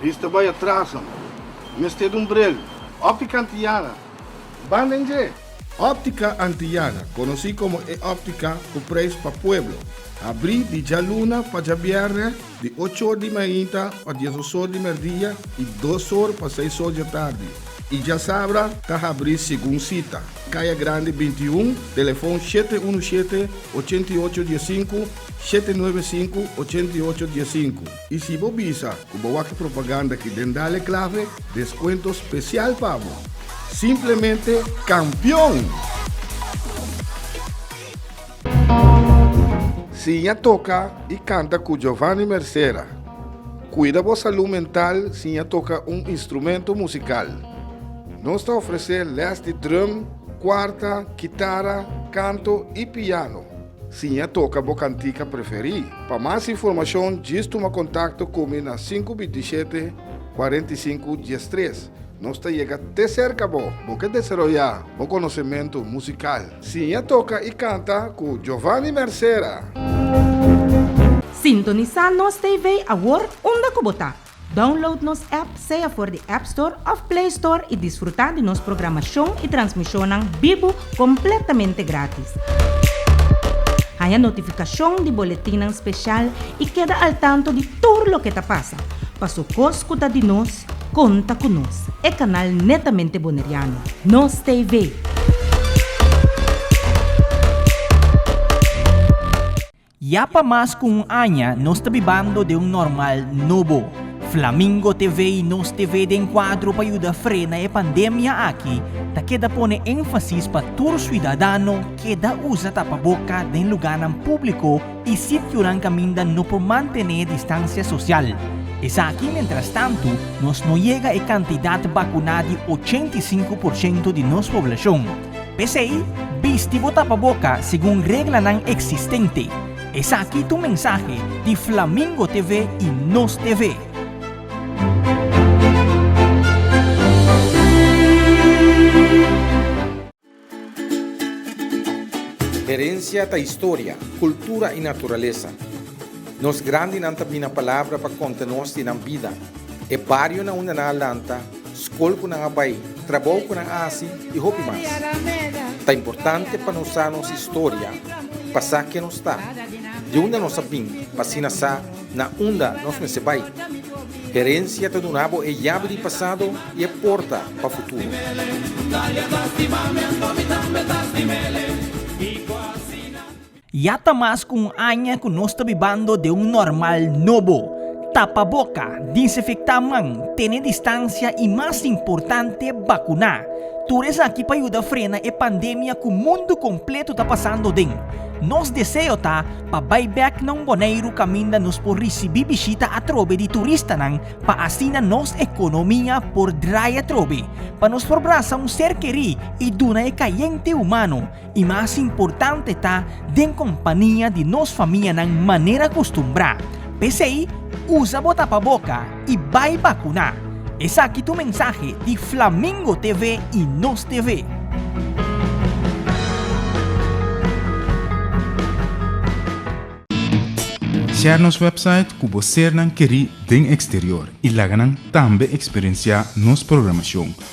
Riz ta bai atras amo. Mester dun brel. Optica Antillana, banda inglé! Optica Antillana, conoci como e optica cu prijs pa pueblo, abri di djaluna pa djabièrnè di ocho or di mainta pa diesos or di merdia y dos or pa seis or djatardi y djasabra ta habri segun cita, Caya Grande binti i un, telefon shete unu shete, ochenta i ocho diasinku, shete nuebe sinku, ochenta i ocho diasinku. Y si bo bisa cu bo wak e propaganda aki den Dale Clave, descuento special pa bo! Simplemente campeon! Sin ya toca y canta cu Giovanny Mercera. Cuida bo salud mental sin ya toca un instrumento musical. Nos ta ofrece les di drum, cuarta, kitara, canto y piano. Siña toka bo kantika preferí. Pa mas informashon djis tuma kontakto ku mi na sinku bintishete kuarenta i sinku diestres. Nos ta yega te serka bo. Bo ke desaroyá bo konosementu musikal? Siña toka i kanta ku Jovani Mercera. Sintonisá nos TV awor unda ku bo ta. Download nos app sea for di App Store of Play Store y disfruta di nos programashon y transmishonnan bibu completamente gratis. Haña notificashon di boletinnan special y keda al tanto di tur loke ta pasa. Pa su cos cu ta di nos, conta cu nos, e canal netamente Boneriano, Nos TV. Ya pa mas ku un aña nos ta bibando den un normal nobo. Flamingo TV i Nos TV den kuadro pa yuda frena e pandemia aki ta keda pone énfasis pa tur siudadano keda usa tapaboka den lugánan públiko i sitionan kaminda no por mantené distansia sosial. Esaki mentrastantu nos no yega e kantidat bakuná di ochenta i sinku por ciento di nos poblashon. P'esei, bisti bo tapaboka segun reglanan eksistente. Esaki t'un mensahe di Flamingo TV i Nos TV. Herensia ta historia, kultura i naturalesa. Nos grandinan ta bina palabra pa konta nos di nan bida, e barionan unda nan a lanta, skol ku nan a bai, trabou ku nan a hasi i hopi mas. Ta importante pa nos sa nos historia, pa sa ken nos ta, di unda nos a bin pa asina sa na unda nos mester bai. Herensia ta duna bo e yabi di pasado i e porta pa futuro. Ya ta mas ku un aña ku nos ta bibando den un normal nobo. Tapa boka, dinsinfektá man, tene distansia i mas importante, bakuná. Tur esaki pa yuda frena e pandemia ku mundu kompletu ta pasando den. Nos deseo ta pa bai bèk na un Boneiru kaminda nos por risibí bishita atrobe di turistanan pa asina nos ekonomia por drai atrobe, pa nos por brasa un ser kerí i duna e kayente humano, I mas importante ta den kompania di nos famianan manera kustumbrá. P'esei, usa bo tapaboka i bai bakuná. Esaki tu mensahe di Flamingo TV i Nos TV. Share nos website ku bo sernan kerí den eksterior i laga nan tambe eksperensiá nos programashon.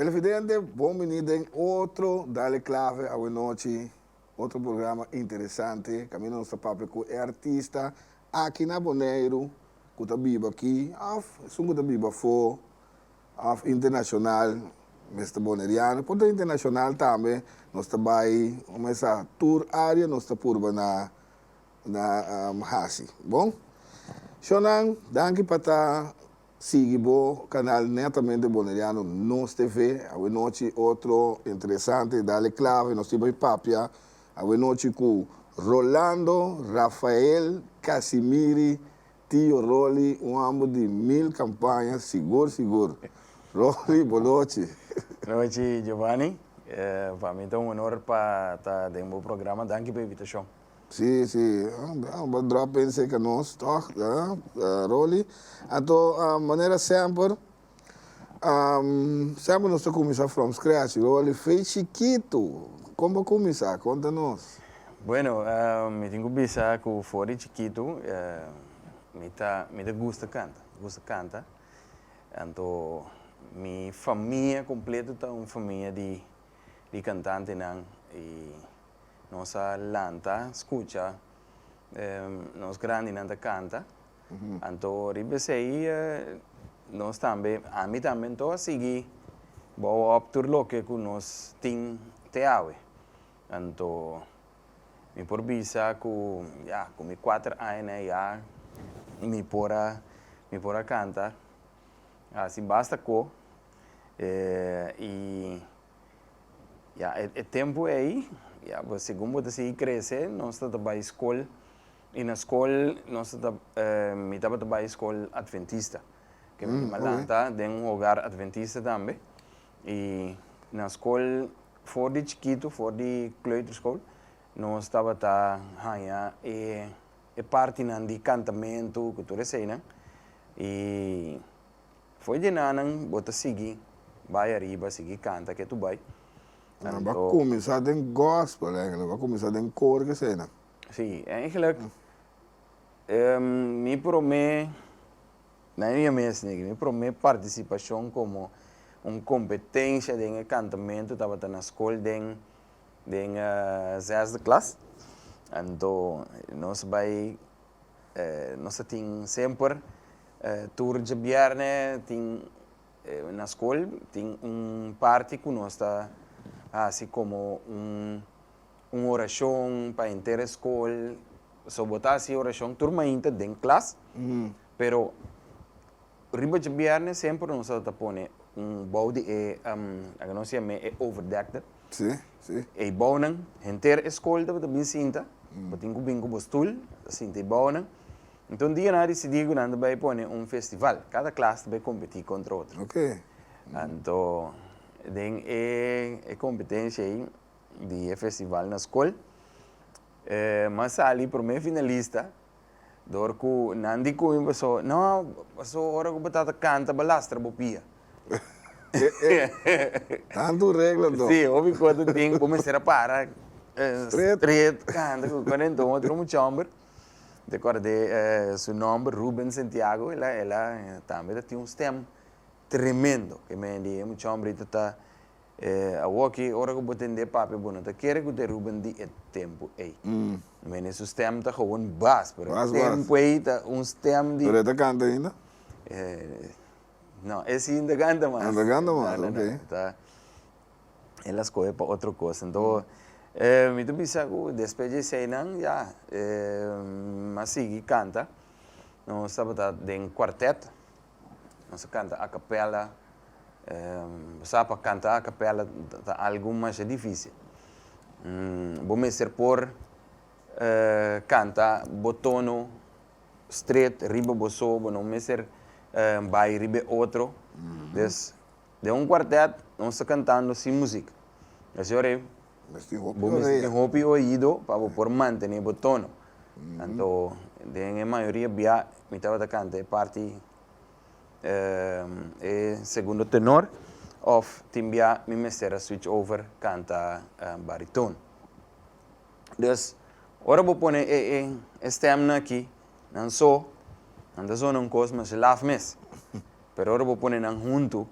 Televidente bon bini den otro Dale Clave awe nochi, otro programa interesante, caminda nos ta papia cu e artista aki na Boneiru cu ta biba aki of esun cu ta biba afo of internacional mester Boneriano por ta internacional tambe nos ta bay un mes a tur area nos ta purba na na haci bon. Shonan danki pa ta Sigui bo canal Netamente Boneriano Nos TV awe nochi otro interesante Dale Clave nos tin pa papia awe nochi cu Rolando Rafael Casimiri Tio Rolly un ambo di mil campaña sigur sigur Rolly bo nochi. Nochi Giovanni, pa mi ta un honor pa ta den bo programa, danki pa invitacion. Si si aba drop in seca nos toch Rolly anto manera semper semper nos ta cuminsa from scratch Rolly fey chiquito con bo cuminsa conta nos. Bueno mi tin cu bisa cu for di chiquito mi ta mi ta gusta canta gusta canta anto mi famia completo ta un famia di di cantantenan y. Nos a lanta skucha nos grandinan ta kanta. Anto riba esei nos tambe, ami tambe anto a sigui bou òp tur loke ku nos tin te awe. Anto mi por bisa ku ya ku mi kuater aña na e ya mi por a mi por a kanta. Hasi basta ko i Ya e e tempu ei ya bo segun bo ta sigui krese nos ta ta bai skol i na skol nos ta ta mi tabata bai skol adventista ke mi a lanta den un hogar adventista tambe i na skol for di chikitu for di kleuterskool nos tabata haña e e partinan di kantamentu ku tur eseinan i Fo'i di nanan bo ta sigui bai ariba sigui kanta ke tu bai. Nan a ba kuminsá den gospel èinkelijk, ba kuminsá den koor ke esei nan. Sí, èinkelijk mi promé, na e mia mes niki, mi promé partisipashon komo un kompetensha den e kantamentu tabata na skol den den zesde klas. Anto nos bai nos ta tin semper tur djabièrnè tin na skol tin un parti ku nos ta hasi komo un orashon pa henter e skol so bo ta hasi orashon tur mainta den klas pero. Riba dje bièrnè semper nos a ta pone un bou di e laga nos yam'e e overdekte. E bounan, henter e skol tabata bin sinta, bo tin ku bin ku bo stul, a sinta e bounan. Enton un dia nan a disidí ku nan ta bai pone un festival, kada klas ta bai kompetí kontra otro. Anto den e kompetenshia ei di e festival na skol, mi a sali promé finalista. dor ku nan di Cuño pasó, no, pasó ora ku bo ta ta kanta bo lastra bo pia. Tantu regla anto. Sí, hopi kos ta tin, bo mester a para Stret. stret kanta ku konen. Enton otro mucha hòmber, m'i kòrd'é su nòmber, Ruben Santiago, el a, el a tambe ta tin un stèm tremendo. Ke mende, e mucha hòmber ita ta E awoki, ora ku bo tende e papia, bo no ta kere ku te ruben di e tempu ei. Mi mene su stèm ta gewoon bas, pero e tempu ei ta un stèm di. Pero e ta kanta ainda? No, e si no ta kanta mas. No ta kanta mas, ok. Ta, el a skohe pa otro kos. Anto, mi ta bisa ku despues di eseinan, ya, mi a sigui kanta. Nos tabata den kuartèt. Nos a canta a capella. Bo sa pa canta a capella ta algo masha dificil. Bo mester por canta bo tono stret riba bo so. Bo no mester bay riba e otro. Den un cuartet nos ta cantando sin muziek. Bo mester tin hopi oido pa bo por mantene bo tono. Anto den e mayoria bia mi tabata kanta e parti e segundo tenor of tin bia mi mester a switch over kanta baritone. Dus ora bo pone e stemnan aki nan so nan ta zona un kos masha laf mes pero ora bo pone nan huntu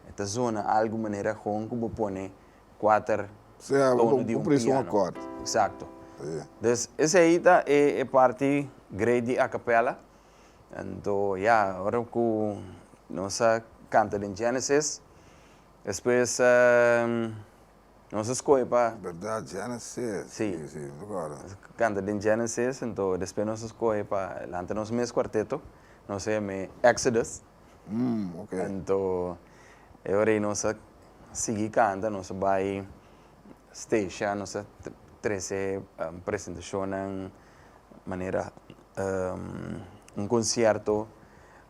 e ta zona algu manera gon ku bo pone kuater tono di un piano. Exacto. Dus esei ta e e parti great di acapella. Anto ya, ora ku nos a kanta den Genesis, despues nos a skohe pa. Berdad, Genesis. Si. Si, si, recorda. Nos a kanta den Genesis, anto despues nos a skohe pa lanta nos mes kuarteto, nos a yam'e Exodus. Anto e ora ei nos a sigui kanta nos ta bai stage a nos ta trese presentashonnan manera un concierto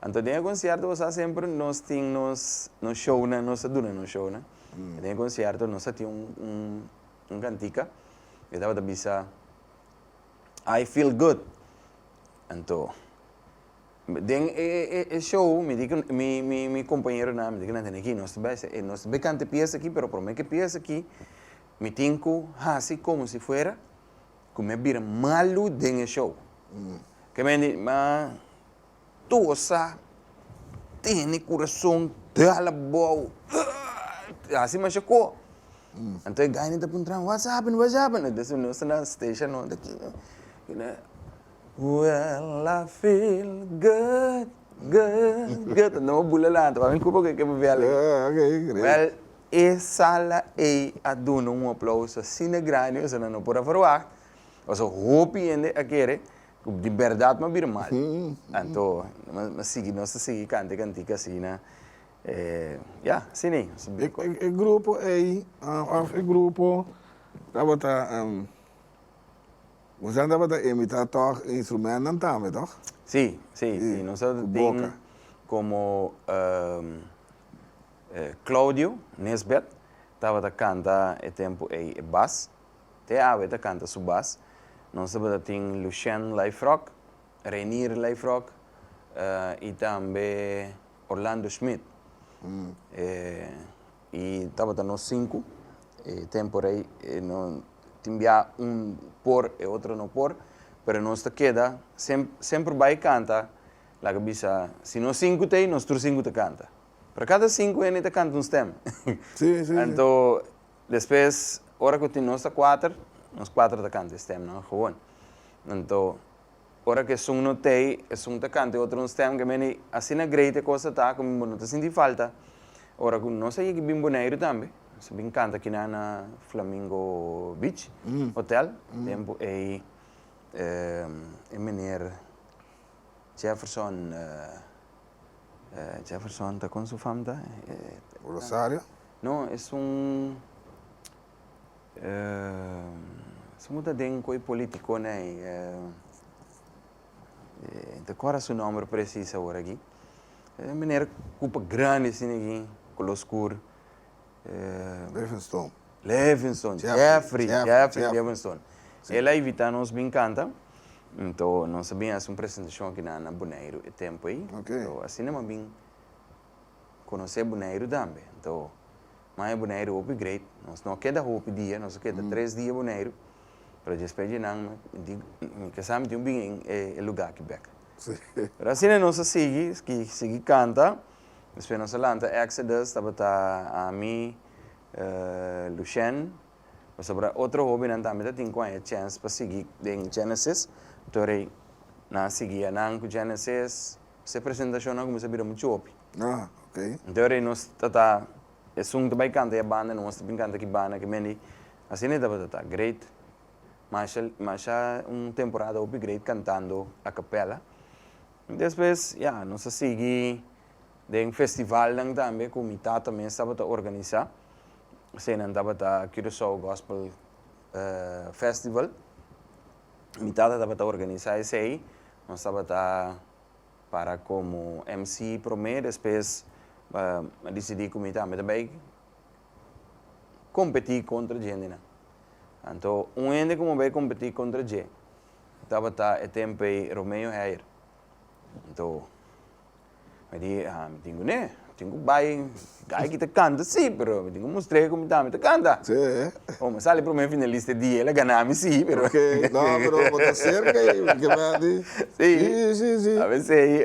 anto den e concierto bo sa semper nos tin nos nos shownan nos ta duna nos shownan den e concierto nos ta tin un cantica e tabata bisa I feel good anto. Den e e show mi di cu mi mi mi compañeronan mi di cu nan tene aki nos ta bay sa e nos ta bay canta e pieza aki pero prome cu e pieza aki mi tin cu haci como si fuera cu mi a bira malo den e show ke me di ma tosa tene corazon dal abao ëëëëë haci masha co anto e gaynan ta puntranan whats happened whats happened nos ta na station no. Well I feel good, good, good Anto bo bula lanta pa mi cupa cu e ke papia aligi. Ah ok great. Well e sala ey a duna un aplauso asina grandi mester nan no por a verwacht pasobra hopi hende a kere cu di berdad nos a bira mal anto nos a sigui nos ta sigui canta e cantica asina eh ya asina ey. E grupo ey of e grupo tabata. Boso a tabata imita tog e instrumentnan tambe tog? Si, si, si nos a tin. Ku boka. Komo Claudio Nisbet tabata kanta e tempu ei e bas, te awe ta kanta su bas. Nos tabata tin Lucien Lijfrock, Reinier Lijfrock i tambe Orlando Schmit. Y tabata nos sinku, e tempo rei e no tin bia un por e otro no por, pero nos ta keda sem semper bai canta, laga bisa si nos sinku ta ei nos tur sinku ta canta, pero cada sinku hende ta canta un stem, Sí, sí, sí. anto despues ora cu tin nos ta cuater, nos cuater ta canta e stemnan gewoon, anto. Ora ku esun no ta ei, esun ta kanta e otro un stem ke meni, asina great e kos a ta ku mi bo no ta sinti falta. Ora ku nos a yeki bin Boneiru tambe, nos a bin kanta kina na Flamingo Beach Hotel, tempu ei e meneer Jefferson, Jefferson ta kon su famta? Rosario? No, esun si bo ta den cu e politiconan ey, ta corda su nomber precis ahora aki, e meneer cu pa grandi asina aki, color scuro, Levenston, Levenston, Jeffrey, Jeffrey Levenston, el a invita nos bin canta, enton nos a bin haci un presentacion aki na Boneiru e tempo ey, enton asina mi a bin conoce Boneiru tambe, enton Maña Boneiru hopi great, nos no a keda hopi dia, nos a keda tres dia Boneiru, pero dj'espe dje nan mi tinti mi kasa mi tin bini en e e luga aki bek. Pero asina nos a sigui, sgi sigui kanta, despue nos a lanta Exodus, tabata ami, Lushen, pasobra otro hobinan tambe ta tin cu haya chance pa sigui den Genesis, anto rei nan a sigui a nan cu Genesis, se presentacionnan cuminsa bira muchu hopi. Ah, ok. Enton rei nos tata esun ta bai canta ya banda nos ta bin canta ki banda ki mendi asi ne tabata ta great masha masha un temporada hopi great cantando a capella y despues ya nos a sigui den festivalnan tambe cu mi tata mes tabata organiza eseinan tabata Curacao Gospel Festival mi tata tabata organiza esey nos tabata Para komo MC promé despues a disidí ku mi tambe ta bai kompetí kontra djentenan. Anto un hende ku mi a bai kompetí kontra dje tabata e tempu ei Romeo Heyer. Anto mi di, a mi tin kuné. Tin cu bay gay ki ta canta si pero mi tin cu mustr'e como tami ta canta oh mi sali primer finalista e dia el a gana mi si pero ok no pero bo ta cerca ahi bo kiba di si si si avesey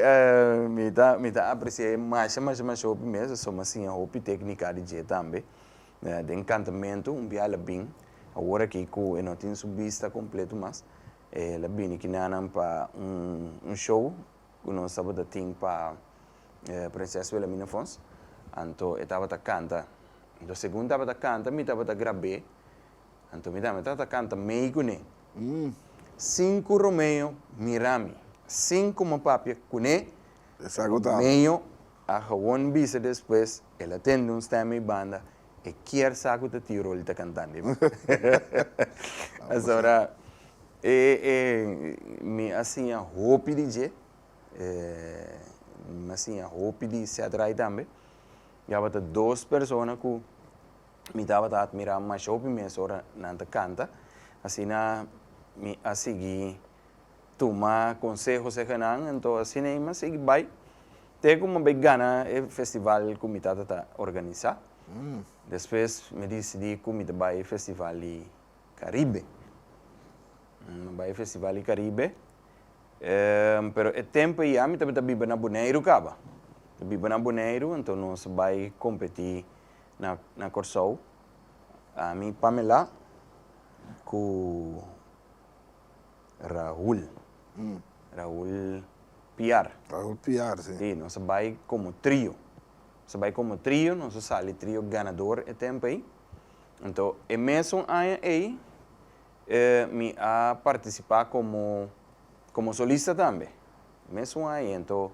mi ta mi ta apreciae masha masha masha hopi mes a suma siña hopi tecnica di dje tambe den cantamento un bia el a bin awor aki cu e no tin su bista completo mas el a bini ki nanan pa un show ku nos tabata tin pa Prinses Wilhelmina Fons, anto e tabata kanta. Anto segun tabata kanta mi tabata grab'é, anto mi tambe tabata kanta mei kuné. Sin ku Romeo mira mi, sin ku mi papia kuné, Romeo a hawon bisa despues el a tende un stemming banda E kier sa ku ta tio Rolly ta kantando i muhé. Pasobra e e mi a siña hopi di dje, e mi a siña hopi di Setright tambe. Yabata dos persona ku mi tabata atmirá masha hopi mes ora nan ta kanta. Asina mi a sigui tuma conseho se genan ento asina ei mi a sigui bai te cu mi a bay gana e festival cu mi tata ta organisa. Despues mi dicidi cu mi ta bay e festival di Caribe. Mi a bay e festival di Caribe pero e tempo ei ya mi tabata biba na Boneiru caba. Mi ta biba na Boneiru ento nos a bay competi na na Corsou ami, Pamela cu Raul. Raul Piar. Raul Piar, si. Si, nos a bai komo trio. Nos a bai komo trio, nos a sali trio ganador e tempu ei. Anto, e mesun aña ei e mi a partisipá komo komo solista tambe. E mesun aña ei. Anto,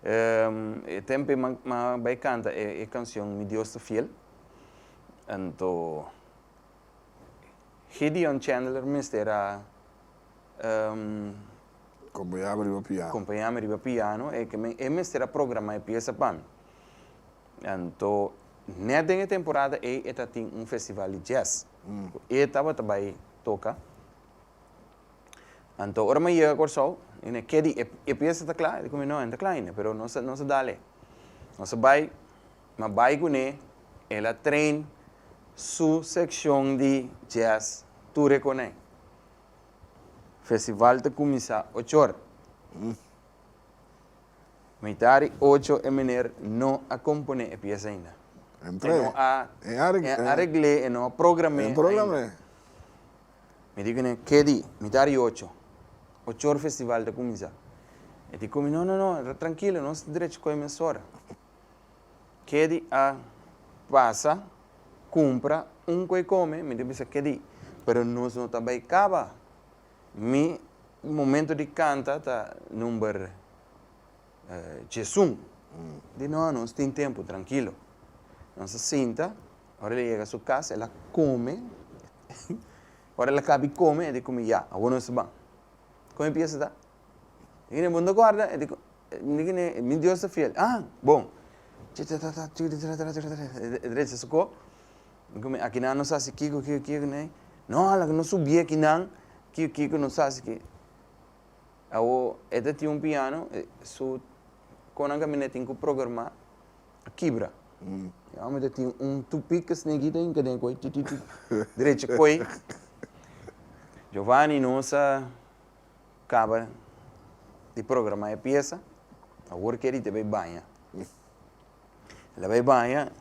e e tempu ei m'a m'a bai kanta e e kanshon Mi Dios ta Fiel. Anto. Gideon Chandler mester a Kompañáme riba piano. kompañáme riba piano, e ke men, e mester a programá e piesa pa mi. Anto, nèt den e temporada ei e ta tin un festival di jazz, ku e tabata bai toka. Anto, ora mi a yega Kòrsou, mi na ke di, e piesa ta kla? E di ku mi, no, e no ta kla ainda, pero nos a, nos a dal e. Nos a bai, ma bai kuné el a train su sekshon di jazz tur e koné. Festival ta kuminsá ochor. Meita di ocho e meneer no a komponé e piesa ainda. E no a aregl'é, e no a program'é ainda. Mi di kuné, Ke di? Meita di ocho. Ochor festival ta kuminsá. E di ku mi, No, no, no, trankilo, nos ta drechi kohe mes ora. Ke di a pasa cumpra un cu e come, mi ta bisa ke di. Pero nos no ta bay caba. Mi momento di canta ta number Djesun. Di no a nos tin tempo, trankilo. Nos a sinta, ora el a yega su cas, el a come. Ora el a caba di come, el a di cu mi, ya, awor nos ta ban. Con e pieza ta? Mi ta cu, no ta guarda? E di cu. Mi Dios ta fiel, a bon! Akinan nos hasi kiko, kiko, kiko nei? No, hala ku no subi akinan, kiko, kiko nos hasi ki. Awo e ta tin un piano, su kon nan kaminda e tin ku programa, a kibra. E òmi ta tin un tupik ku a snegi den i kaden ku oi titi titi derechi ku oi. Jovani nos a. Caba di programa e pieza awor kier di bay baña el a bay baña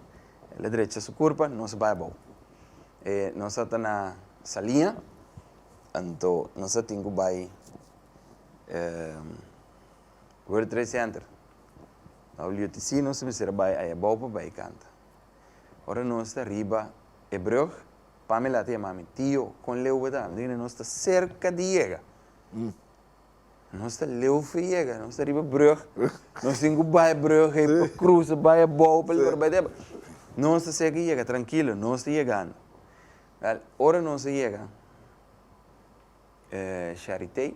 el a drecha su curpa nos bay abao e nos a ta na salia anto nos a tin cu bay world trade center WTC nos a mester a bay aye abao pa bay canta ora nos ta riba e brug Pamela te mami, Tio, kon leu bo ta anda aina? Nos ta serka di yega. Nos ta leu for yega. Nos ta riba e brug. Nos tin ku bai e brug ei pa krusa, bai abou pa lor bai deba. Nos ta serka yega, trankilo, nos ta yegando. Wel, ora nos a yega e Sharity.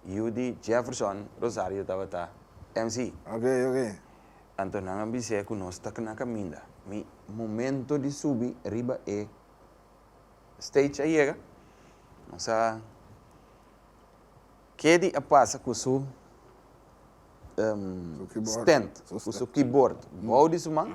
Yudy Jefferson Rosario tabata MC. Ok, ok. Anto nan a bis'é ku nos ta na kaminda. Mi momento di subi riba e stage a yega. Nos a Kedy a pasa ku su stand, ku su keyboard bou di su man.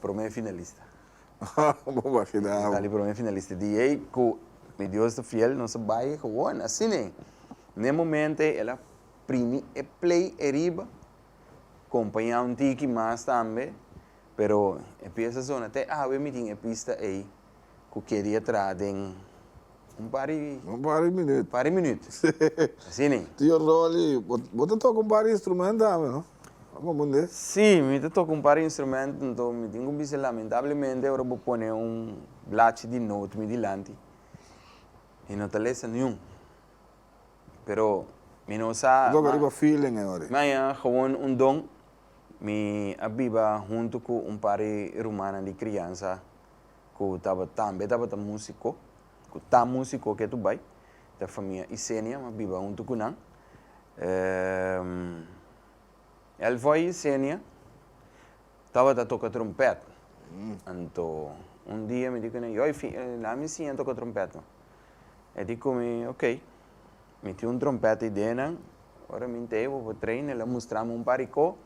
Prome finalista. Haa bo makina abo. Mi sali prome finalista di ei ku mi Dios ta fiel nos a bai gewoon asina. N'e momento ei el a primi e play ei riba kompañá un tiki mas tambe pero e pieza zona te awe mi tin e pista ei ku keri a traha den. Un par di. Un par di minüt. Un par di minüt. Asi ni. Tio Rolly, bo, bo ta toka un par di instrumento tambe, no? Bo ta kompundé? Sí, mi ta toka un par di instrumento. Anto mi tin ku bisa, lamentablemente ora bo pone un blachi di note mi dilanti, mi no ta lesa niun. Pero mi no sa. Bo toka riba feeling e ora. Mi a yega gewoon un don. Mi a biba huntu ku un par di rumannan di kriansa ku taba tambe tabata musiko, ku ta musiko ke tu bai, ta famia Isenia ma biba huntu ku nan. El fo'i Isenia tabata toka trumpèt. Anto un dia mi di ku nan, Yoi, la'a mi siña toka trumpèt, man. E di ku mi, Ok. Mi tin un trompet idee nan. Ora mi nta ebo pa train el a mustra mi un par rico.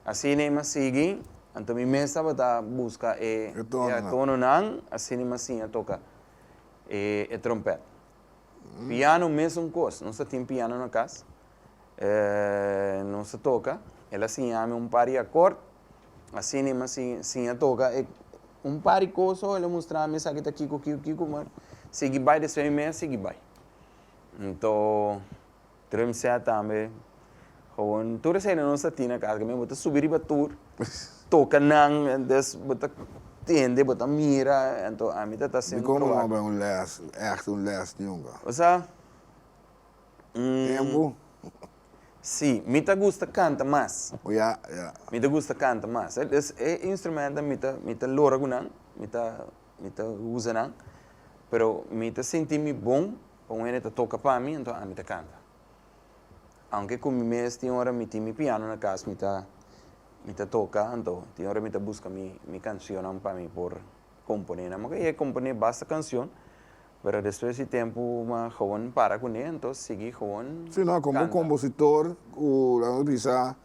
Asina mi a sigui. Anto mi mes tabata busca e atono nan. Asina mi a siña toca e trompet. Piano mesun cos. Nos ta tin piano na cas. Nos a toca. El a siñami un par di acort. Así ni mas si si a toca e un par di cosa oh el a mustra mi esaki ta kico kico kico ma sigui bai despues mi mei a sigui bai enton drum set tambe gewoon tur esaki nan nos a tin na casa caminda bo ta subi riba tur toca nan entonces bo ta tende bo ta mira enton ami ta ta haciendo mi trabajo. Dicon bo no a habra un les echte un les nunca. Osea Tempu. Sí, mi ta gusta canta mas. Oh ya, ya. Mi ta gusta canta mas. Es e instrumentonan mi ta, mi ta lora cu nan, mi ta, mi ta usa nan. Pero mi ta sinti mi bon pa un hende ta toca pa mi, enton ami ta canta. Aunke cu mi mes tin ora mi tin mi piano na cas, mi ta, mi ta toca, enton tin ora mi ta busca mi, mi cancionnan pa mi por komponé naman ke komponé basta kanshon pero despues di tempu ma gewoon para kuné anto sigui gewoon Sino kon bo kompositor ku la nos bisa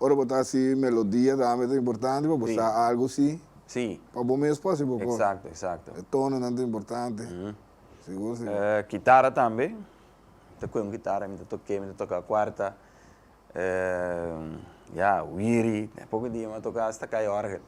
ora bo ta hasi melodia tambe ta importante pa bo sa algu si si pa bo mes por si bo kos eksakto eksakto e tononan ta importante sigur sigur kitara tambe ta koe un kitara mi ta toke mi ta toka kuarta ya wiri den poko dia mi toka asta kaya orgel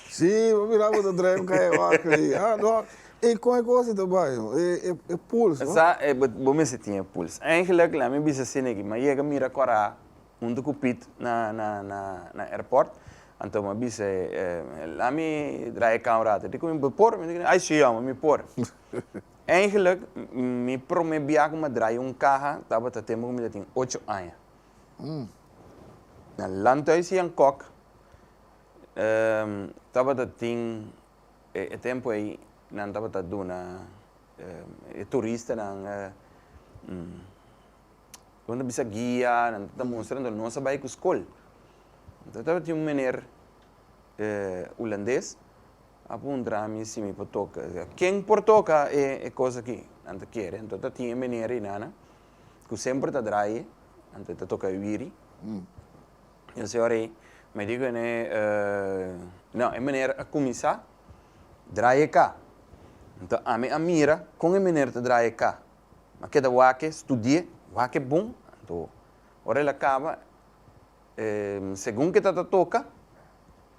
si bo mira bo ta trae kaya orgel ahi a no e con e cosa ta bay no e pools no sa e bo mester tin e pools eigenlik la mi bisa asina aki mi a yega mira cora hunto cu pit na na airport anto mi a bisa e lami trae e camera ato dikon mi por ay si amo mi por Eigenlijk, mi prome bia ku mi a draya un kaha tabata tempu ku mi ta tin ocho aña. Na Landhuis Jan Kok tabata tin e tempu ei nan tabata duna e turistanan nan ta bisa guia, nan ta mustra dor nos a bai ku skol. Tabata tin un meneer hulandes A puntra mi si mi por toca e. Ken por toca e e cosa aki? Nan ta kere, anto ta tin e menera y nana cu semper ta draye, anto e ta toca e wiri. E señora ey me dico ene, No, e meneer a cuminsa draye e ka. Anto ami a mira con e meneer ta draye e ka. Mi a keda wake, studie, wake bon, anto ora el a caba, segun ke ta ta toca,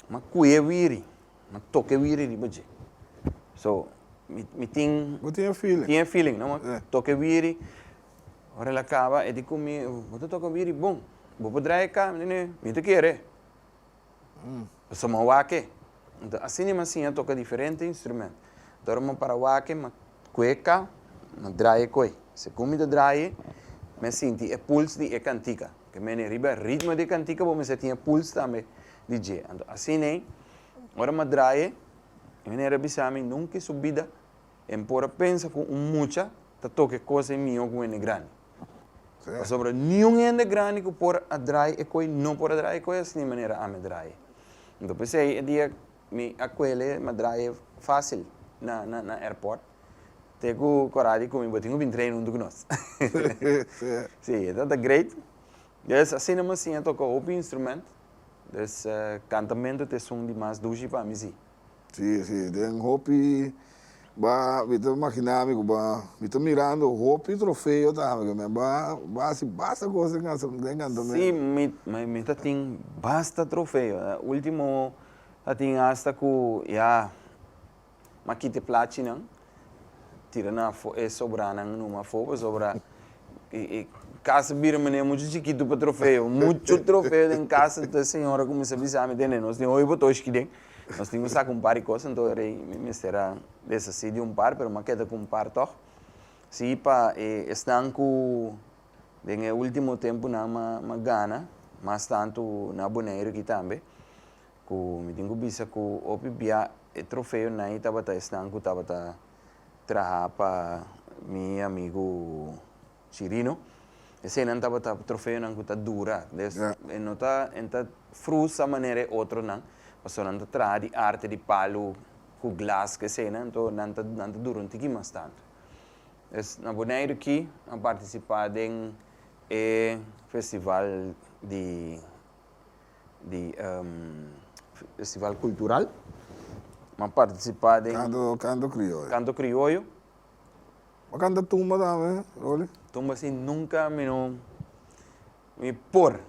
ma ku'e wiri, ma toke wiri riba dje. So, mi, mi tin. Bo tin e feeling. Tin e feeling, no? Ma toke wiri, ora el a kaba, e di ku mi, bo ta toka wiri bon. Bo por draaie ka? Mi di, nee, mi ta kere. Pasobra mi a wak e. Asina mi a siña toka diferente instrumento. Ora mi a para wak e, mi a Cueca no draye coe. Segun mi ta draye, me sinti e puls di e cantica. Porque mene riba e ritmo di e cantica bo mester tin e puls tambe di dje. Anto asine, ora m'a draye, e manera a bisa mi, Nunca i su bida en por a pensa cu un mucha ta toca e cos ei miho cu un hende grandi. Pasobra niun hende grandi cu por a draye e coe, no por a draye e coe asina manera ami a draye. Anto p'esei e dia Mi a kuele ma drae fásil na na airport te ku Corradi ku mi bo tin ku bin train huntu ku nos. Sí, e ta ta great. Des asina mi a siña toka hopi instrument. Des cantamentu t'esun di mas dushi pa mi sí. Sí, sí, den hopi ba mi ta imaginá mi ku ba mi ta mirando hopi trofeo ta haba kende ba ba hasi basta kos den kanta den kantamento. Sí, mi mi ta tin basta trofeo. Último ta tin asta ku ya m'a kiti plachinan tira nan afo e sobranan numa afó pasobra e e kasa bira manera muchu chikitu pa trofeo. Muchu trofeo den kasa. Entonces señora kuminsá bisa mi, tende nos tin hopi bo toshki den. Nos tin cu saca un par di cos anto e rey mi mester a deshaci di un par, pero mi a keda cu un par tog. Si pa e esnan cu den e ultimo tempunan mi a mi a gana, mas tantu na Boneiru aki tambe, cu mi tin cu bisa cu hopi bia e trofeonan ei tabata esnan cu tabata traha pa mi amigu Chirino. Esenan tabata trofeonan cu ta dura. Des e no ta e ta frustra manera e otronan pasobra nan ta traha di arte di palu cu glas cu esena anto nan ta nan ta dura un tiki mas tanto. Des na Boneiru ki a participa den e festival di di festival cultural. M'ha participa den. Canto Canto Crioyo. Canto Crioyo. a canta tumba tambe Rolly? Tumba si nunca mi no mi por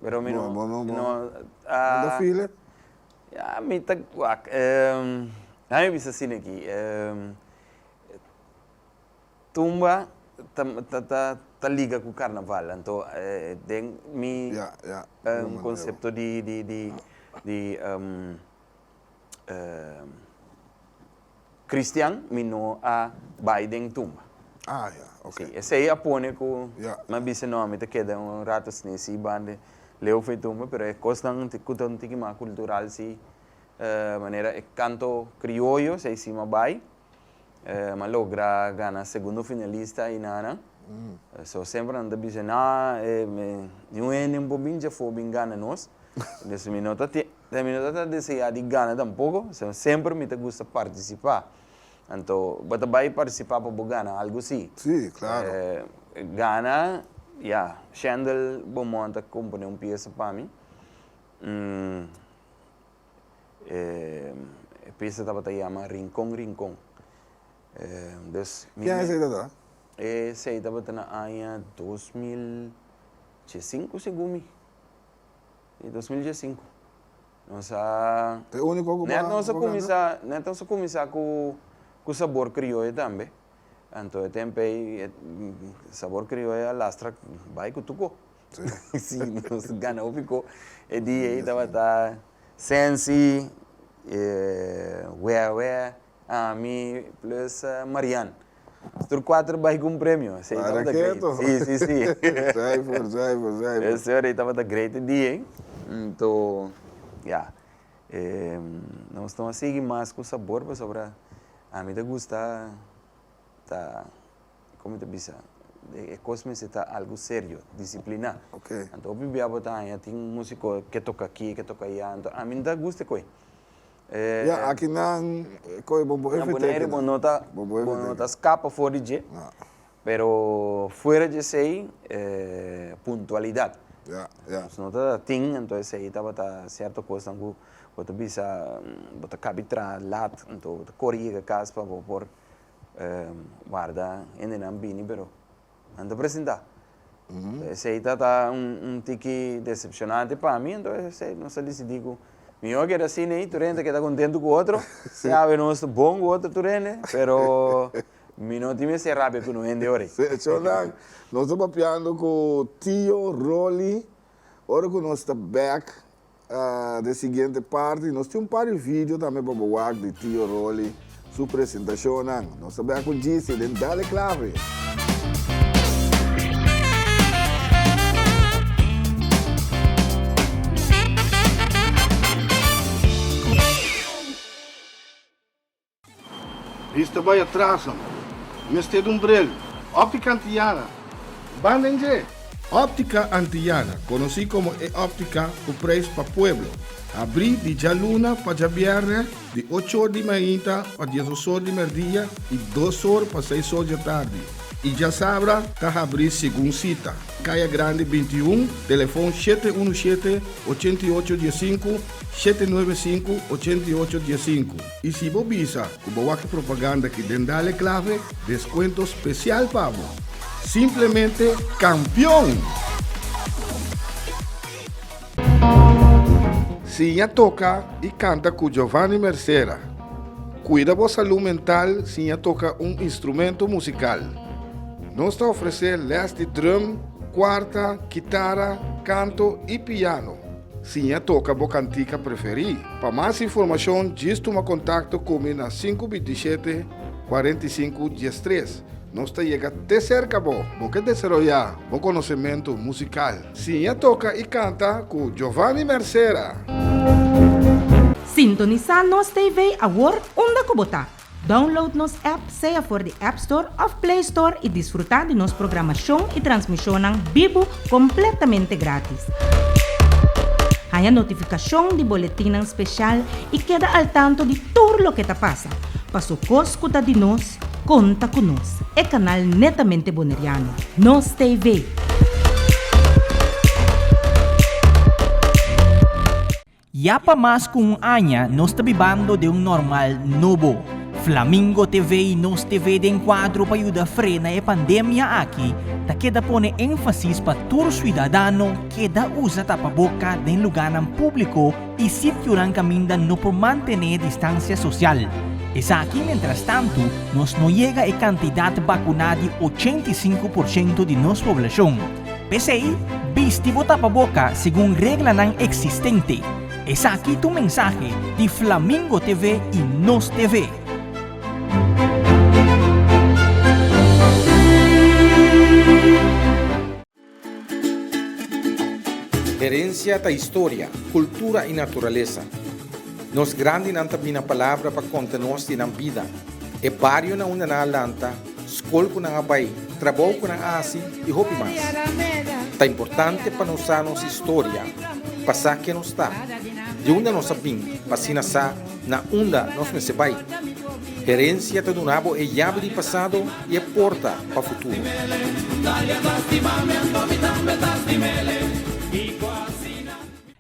pero mi no bo no ta feel it? Ya mi ta wak na mi bisa asina aki tumba ta ta ta liga cu carnaval anto den mi ya ya concepto di di di di Christian mi no a bai den tumba. Ah ya, ok. Sí, esei a pone ku Ya. mi a bisa no, mi ta keda un rato sne si banda Leo for e tumba, pero e kosnan un ti- ku ta un tiki mas kultural si, manera e kanto krioyo esei si mi a bai. Mi a logra gana segundo finalista einan nan. So semper nan ta bisa, nah, e mi un hende un po binchi afó bin gana nos. Entonces mi no ta tin. Mi no ta ta deseá di gana tampoko, sino semper mi ta gusta partisipá. Anto, bo ta bai partisipá pa bo gana algu? Sí. Sí, klaro. Gana, ya. Shendel Beaumont a komponé un piesa pa mi. E piesa tabata yama Rincon, Rincon. Dus mi. Ki aña esei tabata? Esei tabata na aña dos mil diesinku, segun mi. di dos mil diesinku nos a E úniko ku ban nos a kuminsá net nos a kuminsá ku ku sabor krioyo tambe anto e tempo ei sabor krioyo a lastra bai ku tuko si nos gana hopi ko e dia ei tabata sensi e wea wea Ah, mi plus Marian. Tur cuatro bai cu un premio. Esey tabata great. Para keto. Si, si, si. Zuiver, zuiver, zuiver. Esey tabata great e dia ey. Anto, ya. Nos lo a sigui mas cu sabor pasobra ami ta gusta ta, como ta bisa? E cos mester ta algo serio, disciplina. Ok. Anto hopi bia bo ta haña tin musico ke toca aki, ke toca allá. Anto ami no ta gusta cu ey. Ya aki nan coge bo bo efecto eki nan. Nan Bonaire bo no ta scapa for di dje pero fuera dje esey e puntualidad nos no ta tin ento esey tabata cierto cosnan cu bo ta bisa bo ta caba tra lat ento bo ta cori yega cas pa bo por warda hendenan bini pero. nan ta presenta. Enton esey ta ta un un tiki decepcionante pa mi, enton esey nos a disidí ku mihó a keda asina ei tur hende a keda kontentu ku otro, yawe nos ta bon ku otro tur hende, pero mi no tin mester rabia ku no hende ora ei. Sí, achó nan nos ta papiando ku tio Rolly, ora ku nos ta bèk. Den siguiente parti nos tin un par di video tambe pa bo wak di Tio Rolly su presentacionnan. Nos ta bia cu Gise den Dale Clave! Bis ta bai atras amo. Mester dun brel. Optica Antillana, banda inglé! Optica Antillana, conoci como e optica cu prijs pa pueblo, abri di djaluna pa djabièrnè di ochor di mainta pa diesosor di merdia y dosor pa seisor djatardi y djasabra ta habri segun cita, Caya Grande binti i un, telefon shete unu shete, ochenta i ocho dies sinku, shete nuebe sinku, ochenta i ocho dies sinku. I si bo bisa ku bo wak e propaganda ki den Dale Clave, deskuento spesial pa bo! Simplemente kampion! Sin ya toka i kanta ku Giovanni Mercera. Kuida bo salú mental sin ya toka un instrumento musikal. Nos ta ofresé lès di drum, kuarta, kitara, kanto i piano. Siña toka bo kantika preferí. Pa mas informashon djis tuma kontakto ku mi na sinku bintishete kuarenta i sinku diestres. Nos ta yega te serka bo. Bo ke desaroyá bo konosementu musikal? Siña toka i kanta ku Jovani Mercera. Sintonisá nos TV awor unda ku bo ta. Download nos app sea for di App Store of Play Store y disfruta di nos programashon y transmishonnan bibu completamente gratis. Haña notificashon di boletinnan special y keda al tanto di tur loke ta pasa. Pa su cos cu ta di nos, conta cu nos, e canal netamente Boneriano, Nos TV. Ya pa mas ku un aña nos ta bibando den un normal nobo. Flamingo TV i Nos TV den kuadro pa yuda frena e pandemia aki ta keda pone énfasis pa tur siudadano keda usa tapaboka den lugánan públiko i sitionan kaminda no por mantené distansia sosial. Esaki mentrastantu nos no yega e kantidat bakuná di ochenta i sinku por ciento di nos poblashon. P'esei, bisti bo tapaboka segun reglanan eksistente. Esaki tu mensahe di Flamingo TV i Nos TV. Herensia ta historia, kultura i naturalesa. Nos grandinan ta bina palabra pa konta nos di nan bida, e barionan unda nan a lanta, skol ku nan a bai, trabou ku nan a hasi i hopi mas. Ta importante pa nos sa nos historia, pa sa ken nos ta, di unda nos a bin pa asina sa na unda nos mester bai. Herensia ta duna bo e yabi di pasado i e porta pa futuro.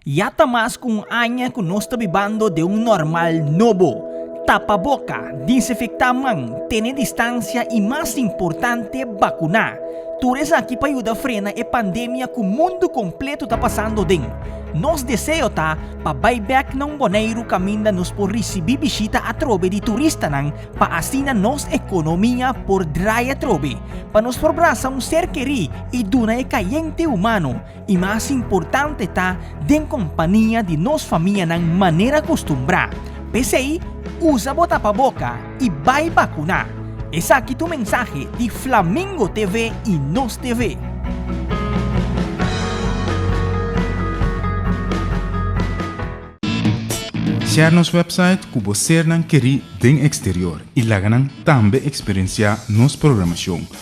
Ya ta mas ku un aña ku nos ta bibando den un normal nobo. Tapa boka, dinsinfektá man, tene distansia i mas importante, bakuná. Tur esaki pa yuda frena e pandemia ku mundu kompletu ta pasando den. Nos deseo ta pa bai bèk na un Boneiru kaminda nos por risibí bishita atrobe di turistanan pa asina nos ekonomia por drai atrobe, pa nos por brasa un ser kerí i duna e kayente humano I mas importante ta den kompania di nos famianan manera kustumbrá. P'esei, usa bo tapaboka i bai bakuná. Esaki tu mensahe di Flamingo TV i Nos TV. Share nos website ku bo sernan kerí den eksterior i laga nan tambe eksperensiá nos programashon.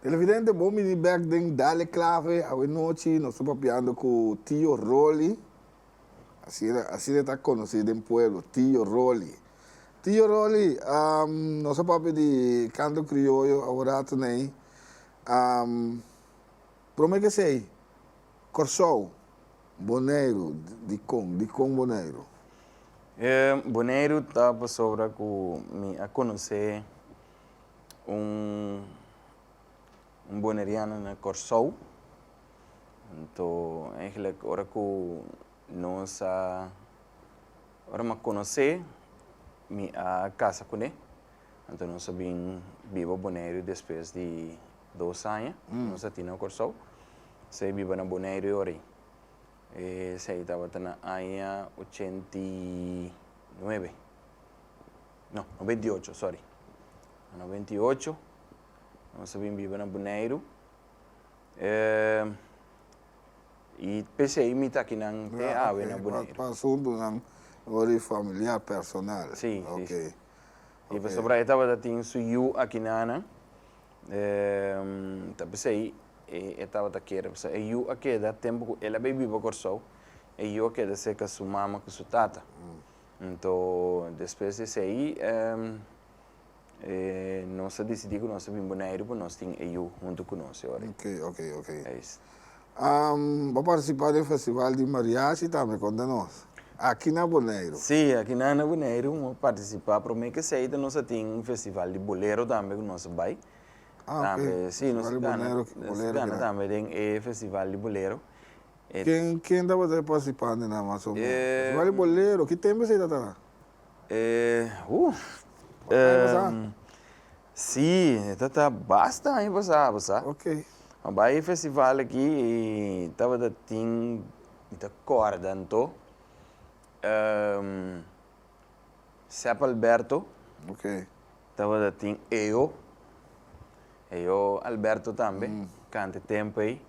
Televidente bo mini bek den Dale Clave awenochi nos ta papiando cu Tio Rolly, asina e ta conoci den pueblo Tio Rolly. Tio Rolly nos a papia di canto crioyo awe rato nei prome kesey Corsou, Boneiru, dicon, dicon Boneiru? Boneiru ta pasobra cu mi a conoce un boneriano na Kòrsou. Anto eigenlijk ora ku nos a, ora m'ha konos'é, mi a kasa kuné. Anto nos a bin biba Boneiru despues di dos aña ku nos a tin na Kòrsou. Esei a biba na Boneiru e ora ei. Esei tabata na aña ochenta i nuebe. No, noventa i ocho, sorry. Na noventa i ocho, nos a bin biba na Boneiru. Eh, i pesei mi ta kinan te Ya, awe na ok. Por, Boneiru. por asuntunan ori familiar, personal. Si, si, Ok. si. I Ok. pasobra e tabata tin su yu aki na nan, eh, ta pesei e, e tabata kere. Pasobra e yu a keda, tempu ku el a bai biba Kòrsou, e yu a keda serka su mama ku su tata. Nto, despues di esei, nos a disidí ku nos ta bin Buneiru pa nos tin e yu huntu ku nos e ora. Oke, oke, oke. Eis. Bo a partisipá den festival di mariachi tambe, konta nos. Aki na Boneiru. Sí, aki nan na Boneiru bo a partisipá. Promé ke esei ta nos a tin un festival di bolero tambe ku nos a bai. Ah, oke. Tambe, sí, nos a gana, nos a gana tambe den e festival di bolero. Ken ken tabata e participante nan mas o menos? Esaki wak di bolero, ki tempo esei ta tara? E huh. Ora aña pasa? Si, e ta ta basta aña pasa bo sa. Ok. A bai e festival aki y tabata tin, mi ta corda anto, Sep Alberto, Ok. tabata tin Eo, Eo Alberto tambe canta e tempo ei.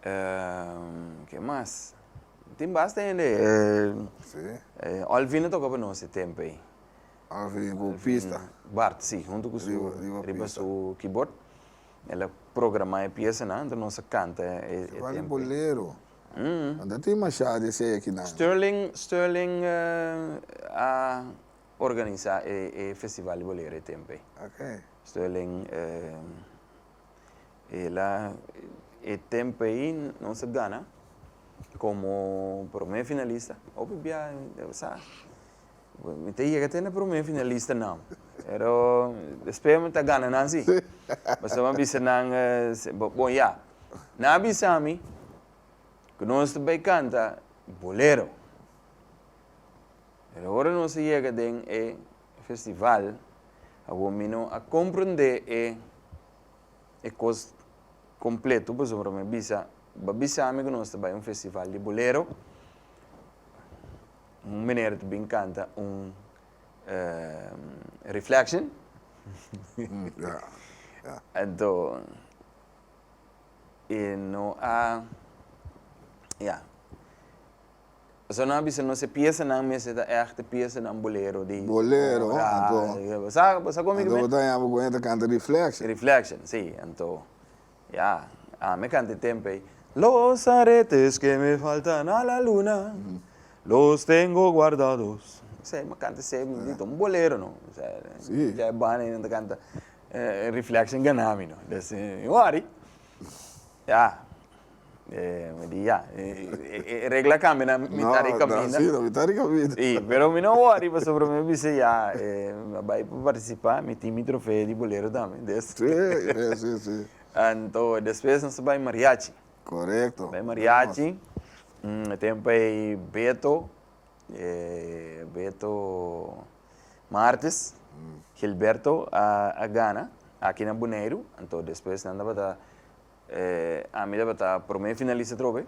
ke mas? Tin basta hende e Olvin a toka pa nos e tempo ei. Olvin ku pista. Bart si, huntu ku su riba su kibort el a programa e piesanan anto nos a kanta e tempo ei. Fasi bolero. Anto a tin masha di esei akinan. Sterling Sterling a organisa e festival di bolero e tempo ei. Sterling. E la e tempo ei nos a gana como prome finalista. Hopi bia sa mi ta yega te na prome finalistanan. Pero despues mi ta gana nan si. Pasobra mi a bisa nan, bon ya, nan a bisa mi cu nos ta bay canta bolero. Pero ora nos a yega den e. festival awor mi no a comprende e e cos completo pasobra mi a bisa ba bisa mi cu nos ta bay un festival di bolero un meneer ta bin canta un reflection ento e no a ya. Esanan a bisa nos e piesanan mester ta echte piesanan bolero di Bolero, ora, anto, bo sa, bo sa komo mi anto bo ta yama ku e ta kanta Reflection. Reflection, si, anto, ya, ami a kanta e tempo ei, Los aretes que me faltan a la luna, los tengo guardados, esei mi a kanta esei dito, un bolero no, esei, Si. dja e banda ei nan ta kanta Reflection gana mi no, desde mi wòri, ya. mi di ya, e regla kambia na mita di kaminda. No, na mita di kaminda. Si, pero mi no wòri pasobra mi a bisa ya mi a bai pa partisipá, mi tin mi trofeo di Bolero tambe. Si, si, si. Anto despues nos a bai Mariachi. Korekto. Bai Mariachi, e tempu ei Beto, Beto Martes, Gilberto a gana aki na Boneiru, anto despues nan tabata. E ami tabata prome finalista trobe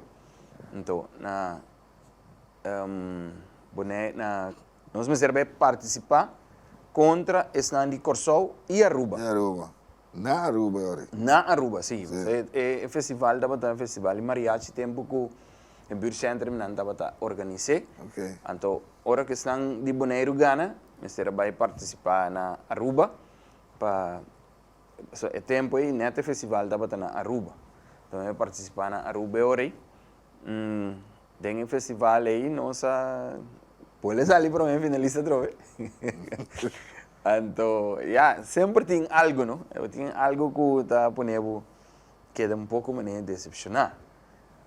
nto na bone na nos mester be participa contra esnan di Corsou y Aruba. Y Aruba na Aruba e ori. Na Aruba si e festival tabata e festival di mariachi tempo cu e buurt centrum nan tabata organise anto ora cu esnan di Boneiru gana mester a bay participa na Aruba pa. So e tempu ei net e festival tabata na Aruba. Lo mi a partisipá na Aruba e ora ei. Den e festival ei nos a pue sali promé finalista atrobe. Anto ya, semper tin algu no. Tin algu ku ta pone bo keda un poko manera desepshoná.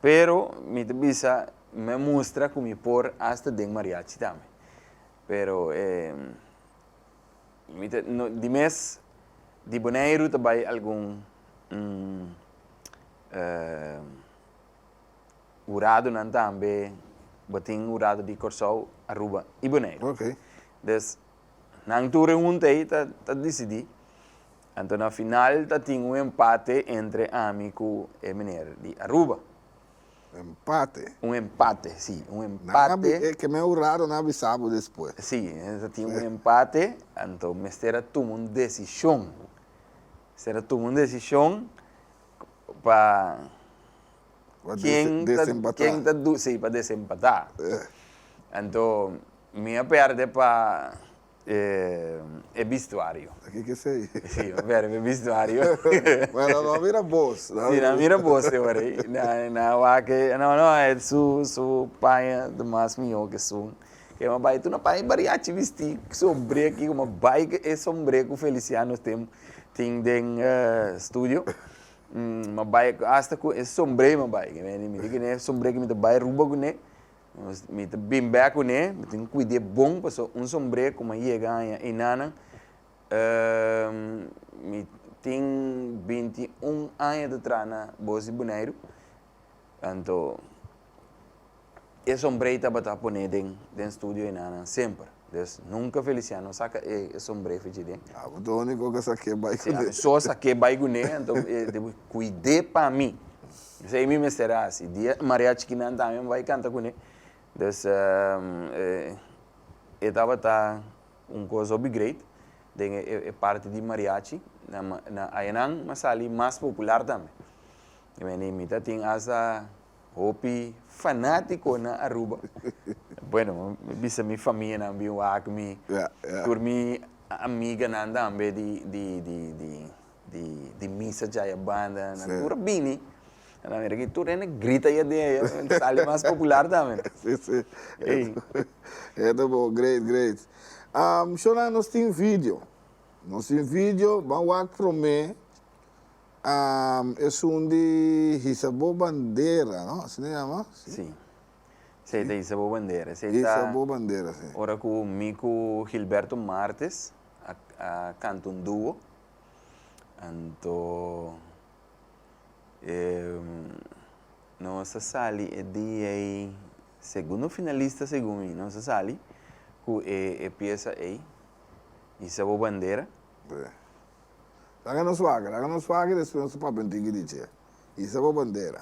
Pero mi ta bisa mi a mustra ku mi por asta den mariachi tambe. Pero e Mi ta di mes di Boneiru ta bai algun huradonan tambe, bo tin hurado di Kòrsou, Aruba i Boneiru. Des nan tur e hunta ei ta disidí. Anto na final ta tin un empate entre ami ku e meneer di Aruba. Empate. Un empate, sí, un empate. Nan a, ke men hurado nan a bisa bo despues. Sí, nos a tin un empate, anto mester a tuma un desishon. Mester a tuma un desishon pa ken ta, ken ta duna, sí, pa desempatá. Anto mi a pèrdè pa. E bistuario. Aki ke esei? Si, un verbo e bistuario. Bueno, no a mira bos. Si, no a mira bos te ora ei. Nan a wak-e, no, no, e su, su paña ta mas mihó ke esun. Ke nan a bai tur nan a paña e bariachi bistí ku sombré aki kuma bai ku e sombré ku Feliciano tem, tin den studio. Nan a bai asta ku e sombré nan a bai. Nan a bini mi. Di kiné e sombré ku mi ta bai Aruba kuné? Mi ta bin bè kuné, mi tin kuid'é bon pasobra un sombré ku mi a yega aña einanan, mi tin binti un aña ta traha na Bos di Buneiru, anto e sombré tabata poné den den studio einanan semper, dus nunka Feliciano a saka e sombré fu dje den. Abo ta úniko ku a sak'é bai kuné. Sí, ami so a sak'é bai kuné, anto e debe kuid'é pa mi. Esei mi mester hasi. Dia e mariachikinan tambe bai kanta kuné. Dus, e tabata un kos hopi greit den e parti di mariachi. Na añanan a sali mas popular tambe. Meni mi ta tin asta hopi fanátikonan Aruba. Bueno, mi bisa mi famianan bin wak mi, tur mi amiganan tambe di. di misa dja ya banda na tur a bini a la mera ki tur hende grita ya di ey a sali mas popular tambe ey e ta bon great great shona nos tin video nos tin video ban wak prome esun di hisa bo bandera no asi ta yama si esey ta hisa bo bandera hisa bo bandera ora ku mi ku Gilberto Martes. a canta un dúo anto nos a sali e dia ei segundo finalista segun mi nos a sali cu e pieza ei Isa bo bandera. Laga nos wak laga nos wak y despues nos a papia un tiki di dje Isa bo bandera.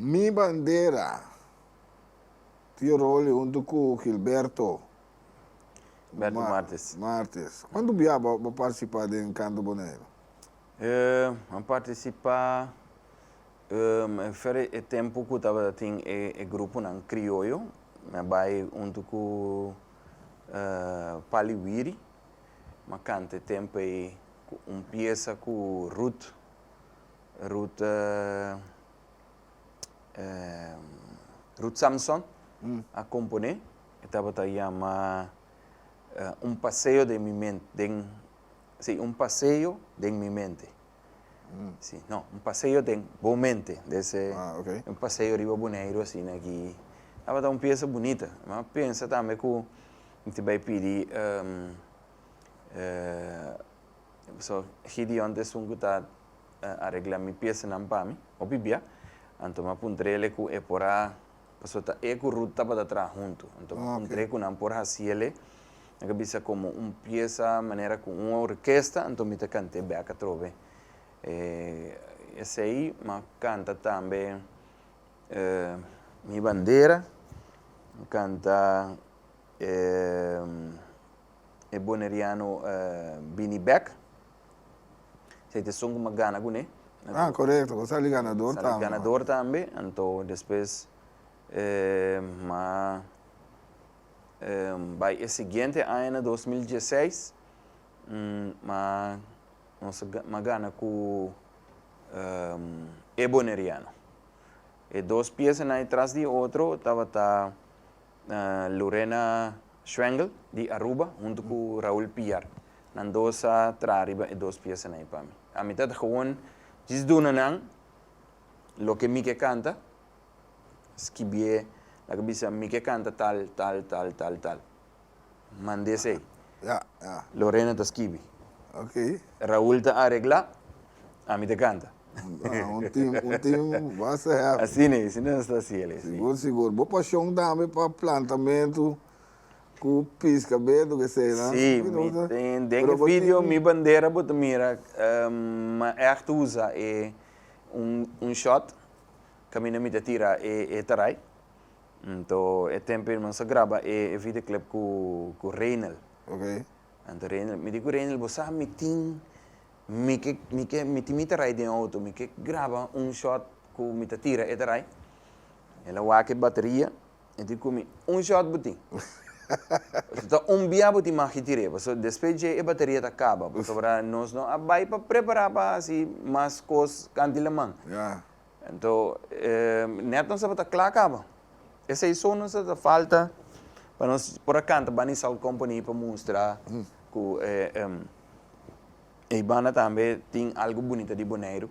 Mi bandera, tio Rolly huntu ku Gilberto. Gilberto Martes. Martes. Kuantu bia bo a partisipá den Kantu Boneiru? An partisipá for e tempu ku tabata tin e gruponan krioyo. Mi a bai huntu ku Pali Wiri. Mi a kanta e tempu ei un piesa ku Ruth Ruth Ruth Samson a komponé. E tabata yama Un paseo den mi men den si Un paseo den mi mente si no Un paseo den bo mente dese Un paseo riba Boneiru asina aki tabata un piesa bunita m'a pensa tambe ku mi tin bai pidi So, Gideon ta esun cu ta aregla mi piesnan pa mi. Hopi bia, anto m'a puntr'ele cu e por a, pasobra ta e cu Rut tabata traha huntu. Anto m'a puntr'e cu nan por haciele, nan ta bisa como un piesa manera cu un orkesta, anto mi ta cant'e bek atrobe. Esey m'a canta tambe Mi bandera, m'a canta. e boneriano bini bek si ta esun kuma gana kuné ah korekto bo sali ganador tambe sali ganador tambe anto despues ma bai e siguiente aña na dos mil dieseis ma nos ma gana ku e boneriano e dos pieza nan e tras di e otro tabata. Lorena Schwengel di Aruba huntu ku Raul Piar. Nan dos a traha riba e dos piesanan ei pa mi. A mi ta ta gewoon djis duna nan loke mi ke kanta, skibié, laga bisa mi ke kanta tal, tal, tal, tal, tal. Mand'é esei. Ya, ya. Lorena ta skibi. Ok. Raul ta aregla, ami ta kanta. Bueno, un team, un team basta happy. Asina e, asina nos ta haci el e, si. Sigur, sigur. Bo pasion tambe pa plantamentu cu pisca bedu, cu esena. Si, mi ten, den e video Mi Bandera bo ta mira, m'a echt usa e un, un shot, caminda mi ta tira e, e tarai. Anto e tempo e mansa graba e e videoclip cu cu Reinel. Ok. Anto Reinel, mi di cu Reinel bo sa mi tin mi ke mi ke mi tin mi ta rai den auto mi ke graba un shot cu mi ta tira e ta rai. El a wak e bateria e di cu mi un shot bo tin pasobra ta un bia bo tin magi tir'e pasobra despues dje e bateria ta caba pasobra nos no a bai pa prepara pa haci mas cos cantilaman. Ya. Anto e netnan tabata kla kaba. Esei so nos ta ta falta pa nos por a kanta Bani Salt Company pa mustra ku e e banda tambe tin algu bunita di Boneiru.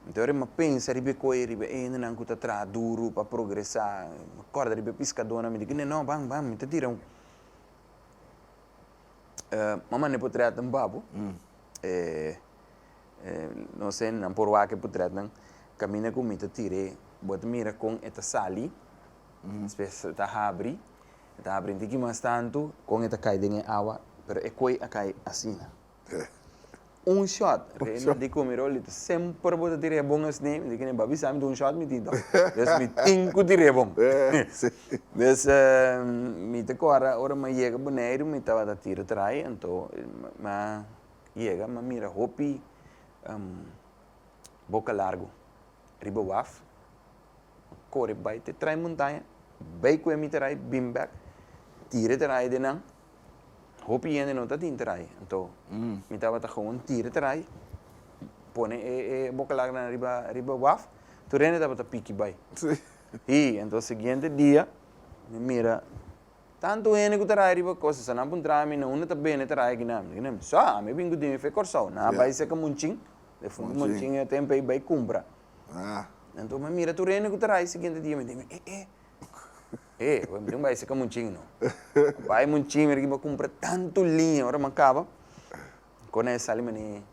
Anto ora mi pensa riba e koe, riba e hendenan ku ta traha duru pa progresá, mi kòrda riba e piskadónan, mi di kende, nò, ban, ban, mi ta tira un mi a manda e potrètnan papu e Nos hendenan por wak por trètnan kaminda ku mi ta tir'é. Bo ta mira kon e ta sali, spes e ta habri, e ta habri un tiki mas tantu, kon e ta kai den e awa, pero e koi a kai asina. Un shòt, Reina di Kumirol di ta semper bo ta tir'é bon esne, mi di kine'e ba bisa mi ta un shòt mi tin tò, bes mi tin ku tir'é bon. Bes mi ta kòrda ora mi a yega Boneiru mi tabata tira trai, anto mi a yega m'a mira hopi boka largu riba waf. M'a kore bai te trae montaña, bai kue mi trae, bin bèk, tira e trae den nan. Hopi hende no ta tin trae, anto mi tabata gewoon tira e trae, pone e boka largunan riba waf, tur hende tabata piki bai. Ii anto e siguiente dia mi mira Tantu hende ku ta raya riba kos esnan por ntra ami na unda ta bene ta raya guina mi, guina mi. Sa, ami a bin ku dimi fe Kòrsou. Nan a bai seka monchin, den fun di monchin e tempu ei bai kumpra. Anto mi a mira tur hende ku ta raya e siguiente dia mi a dimi, eh eh eh awor mi tin bai seka monchin no. A bai monchin mi a riki mi a kumpra tantu liña ora mi a kaba kona e sali mane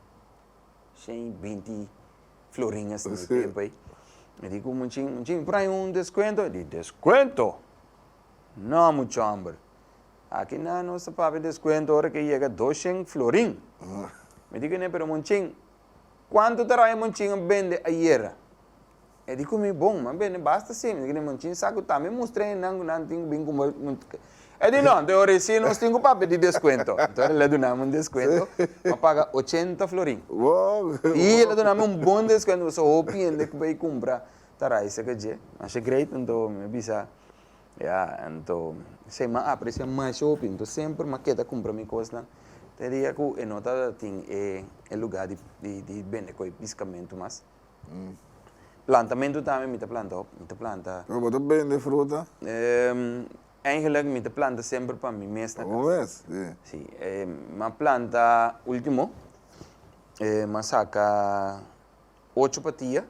shen i binti florin esnan e tempu ei. Mi a di ku monchin, monchin mi por haña un deskuento? E di, deskuento! No mucha homber. Aki na nos ta papia descuento ora ke yega doshent florin. Mi di kuné, pero monchin, cuanto ta raya monchin a bende ayera? E di ku mi, bon, mi a bende basta sin. Mi di kuné, monchin sa ku ta? Mi mustra e nan ku nan tin ku bin kumba. E di, no, enton ora e sin, nos tin ku papia di descuento. Enton ora el a duna mi un descuento, mi a paga ochenta florin. Wow! I el a duna mi un bon descuento, pasobra hopi hende ku bai kumpra ta rai seke dje masha great nto mi bisa ya nto se ma aprecia masha hopi nto semper ma keda cumpra mi cosnan te dia cu e no ta tin e e lugar di di di bende coe piscamento mas plantamento tambe mi ta planta hopi mi ta planta Pero bo ta bende fruta? Eigenlijk mi ta planta semper pa mi mes na cas si ma planta ultimo ma saca. Ocho patia,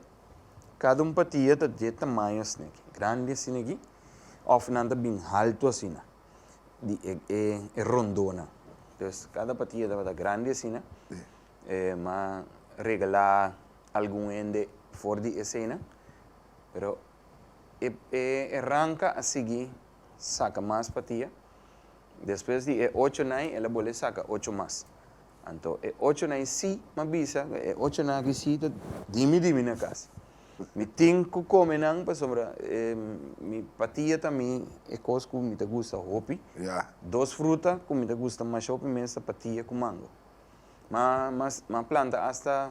kada un patia ta dje tamaño asin'aki, grandi asin'aki, òf nan ta bin haltu asina, di e e rondonan. Entonces, kada patia tabata grandi asina, e m'a regalá algun hende for di esenan, pero e e e ranka a sigui saka mas patia. Despues di e ochonan ei el a bolbe saka ocho mas. Anto e ochonan i si, ma bisa ku e ochonan aki si ta dimi dimi na kas. Mi tin ku kome nan pasobra mi patia ta mi e kos ku mi ta gusta hopi. Dos fruta ku mi ta gusta masha hopi mes ta patia ku mango. Ma a planta asta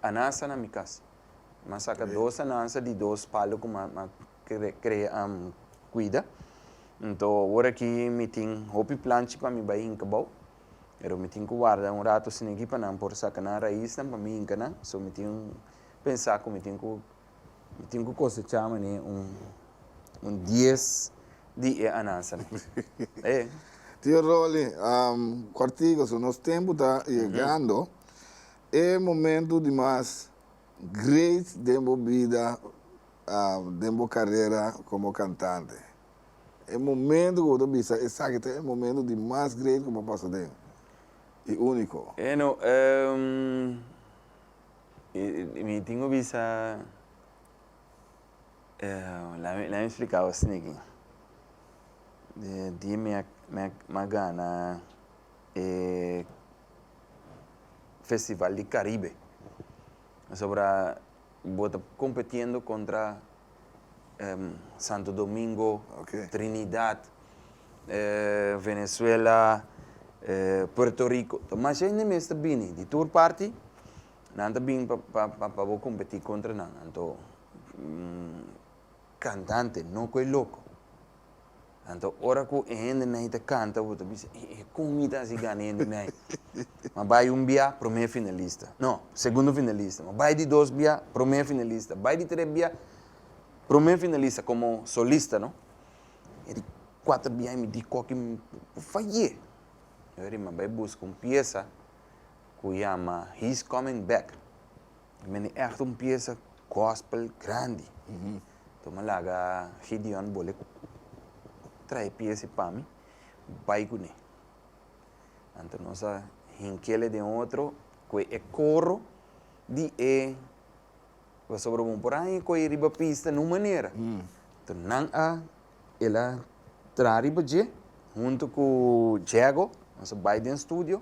anansa na mi kas. Mi a saka dos anansa di dos palu ku mi a kre kuida nto ora aki mi tin hopi planchi pa mi bai hinka bou pero mi tin ku warda un ratu sini aki pa nan por saka nan raisnan pa mi hinka nan so mi tin pensa ku mi tin ku mi tin ku kosecha mane un un dies di e anansa Tio Rolly kortiku so nos tempu ta yegando e momentu di mas great den bo bida Den bo karera komo kantante, e momentu ku bo ta bisa esaki ta e momentu di mas great ku bo a pasa den, i úniko? Bueno, mi tin ku bisa, laat mi spliká bo asina aki. Dia mi a gana e Festival di Karibe, pasobra. Bo ta competiendo contra Santo Domingo, Trinidad, Venezuela, Puerto Rico. Ta masha hende mes ta bini di tur parti. Nan ta bin pa bo competi contra nan. Anto cantante no cu e loco. Anto ora ku e hendenan ta kanta bo ta bisa, e e kon mi ta hasi gana e hendenan? Ma bai un bia, promé finalista. No, segundo finalista. Ma bai di dos bia, promé finalista. Bai di tres bia, promé finalista komo solista, no. E di kuater bia i mi di kòke mi por fayé. Bai buska un piesa ku yama He's Coming Back. Men e ègt un piesa gòspel grandi. Nton mi laga Gideon bole trae piesi pa mi, bai ku ne. Anto nos a hinkele den otro ku e koro di e pasobra bon por a haña kohe riba pista na un manera. Nton nan a. El a traha riba dje huntu ku Djego, nos a bai den studio,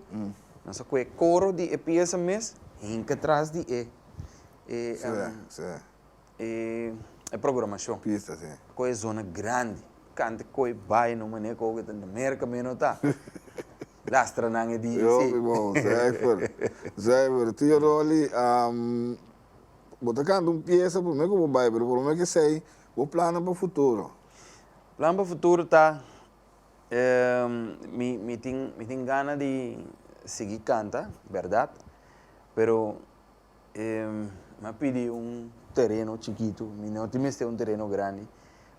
nos a koe e koro di e piesa mes hinka tras di e e programashon, koe e zona grandi, kante koe bai na un manera ku oke ta na Merka me no ta, lastra nan e di e si. Yo mi bon, zuiver, zuiver, tio Rolly, Bo ta canta un pieza prome cu bo bay pero prome cu esey bo plannan pa futuro? Plan pa futuro ta mi tin mi tin gana di sigui canta berdad pero m'a pidi un tereno chikitu mi no tin mester un tereno grandi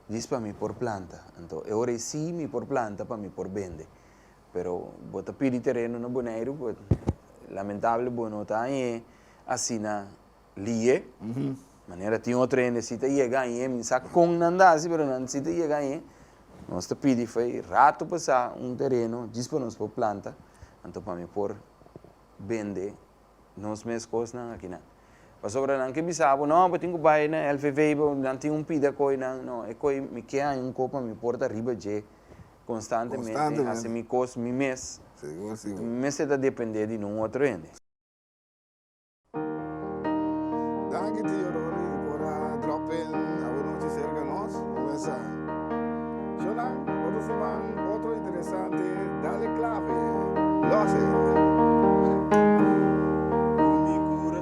djis pa mi por planta anto e ora ey si mi por planta pa mi por bende Pero bo ta pidi tereno na Boneiru but lamentable bo no ta añe asina lie. Manera tin otro hende si ta yega añe, mi sa con nan ta haci pero nan si ta yega añe. Nos ta pidi fey rato pa sa un tereno djis pa nos por planta anto pa mi por bende nos mes cosnan aki nan. Pasobra nan ke bisa bo no bo tin cu bay na LVV bo nan tin un pida coy nan no e coy mi ke aña un coy pa mi por ta riba dje. Konstantemente hasi mi kos mi mes. Sigur, sigur. Mi mester ta dependé di nun otro hende. Danki tio Rony por a drop in awe nochi serka nos Wes'a. Shonan otro siman otro interesante dale clave. Losse. Ku mi kura